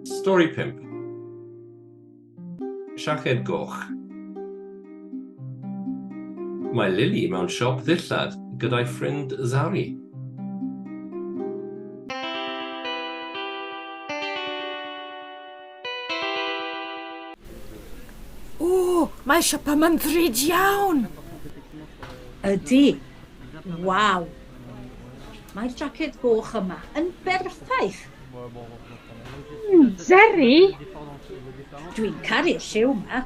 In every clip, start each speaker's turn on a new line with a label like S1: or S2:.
S1: Stori 5. Siaced Goch Mae Lily mewn siop ddillad gyda'i ffrind Zari. O, mae siop yma'n ddrud iawn! Ydy. Waw! Mae'r jacket goch yma yn berffaith! Mm, Jerry! Dwi'n caru'r lliw yma.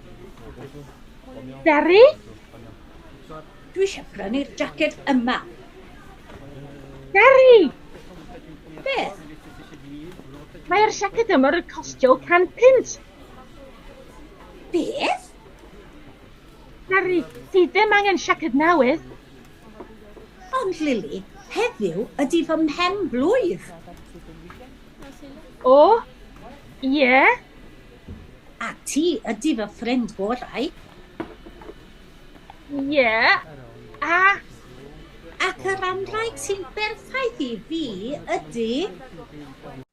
S1: Jerry? Dwi eisiau prynu'r jacket yma. Jerry! Beth? Mae'r jacket yma yn costio 100 pint. Beth? Jerry, ti ddim angen jacket newydd. Ond Lili, heddiw ydy fy mhen blwydd. O, ie? Yeah. A ti ydy fy ffrind gorau. Ie, yeah. a... Ac yr anrhaeg sy'n berffaith i fi ydy...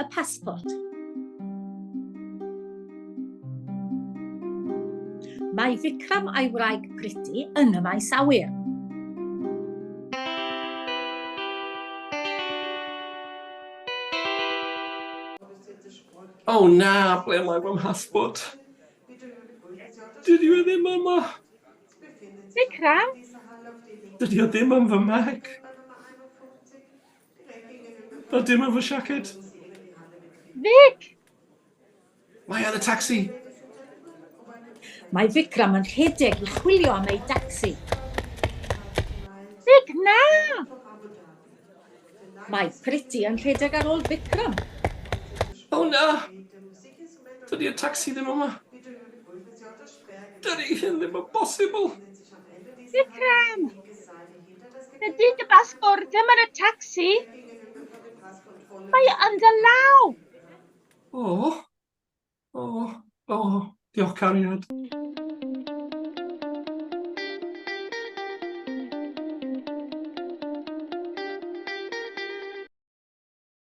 S1: y pasbort. Mae Vikram a'i wraig Priti yn y maes awyr. Oh na, ble mae fy mhasbort? Dydy o ddim yma. Vikram? Dydy o ddim yn fy mag. Fel dim yn fy siaced. Vic! Mae ar y tacsi! Mae Vikram yn rhedeg i chwilio am ei dacsi. Vic, na! Mae Priti yn rhedeg ar ôl Vikram. O na! Dydy'r tacsi ddim yma. Dydy hyn ddim yn bosibl! Vikram! Ydy dy basbort ddim yn y tacsi? Mae o yn dy law! O! O! O! Diolch, cariad.